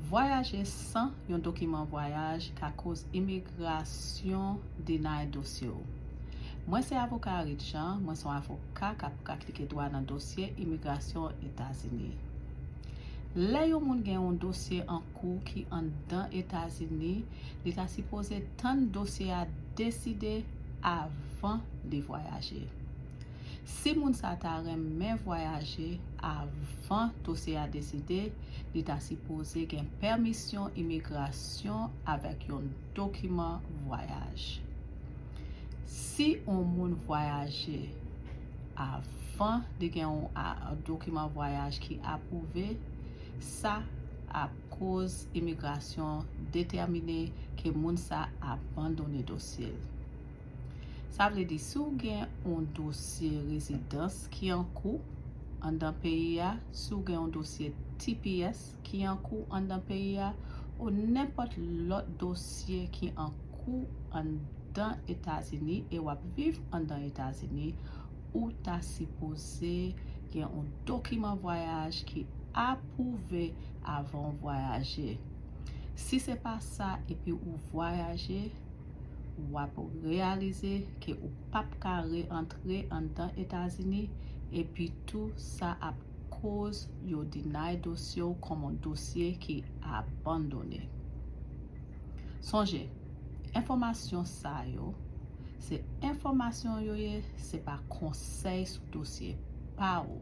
Vwayaje san yon dokiman vwayaj ka koz imigrasyon deny dosye w. Mwen se avoka Arit Jean, mwen son avoka kap praktike dwa nan dosye imigrasyon Etazini. Lè yon moun gen yon dosye an kou ki anndan Etazini, li ta sipoze tann dosye a deside avan li vwayaje. Si moun sa ta renmen vwayaje avan dosye a deside, li ta sipoze gen pèmisyon imigrasyon avèk yon dokiman vwayaj. Si yon moun vwayaje avan li gen yon dokiman vwayaj ki apwouve, sa ap koz imigrasyon detèmine ke moun sa abandone dosye l. Sa vle di si w gen yon dosye rezidans ki an kou anndan peyi a, si w gen yon dosye tps ki an kou anndan peyi a, o nenpòt lòt dosye ki an kou anndan Etazini e w ap viv anndan Etazini, ou ta sipoze gen yon dokiman vwayaj ki apwouve avan w vwayaje. Si se pa sa epi ou vwayaje, wap reyalize ke ou pap ka re antre anndan Etazini epi tou sa ap koz yo deny dosye w kòm on dosye ki abandone. Sonje, enfòmasyon sa yo se enfòmasyon yo ye se pa konsèy sou dosye pa ou.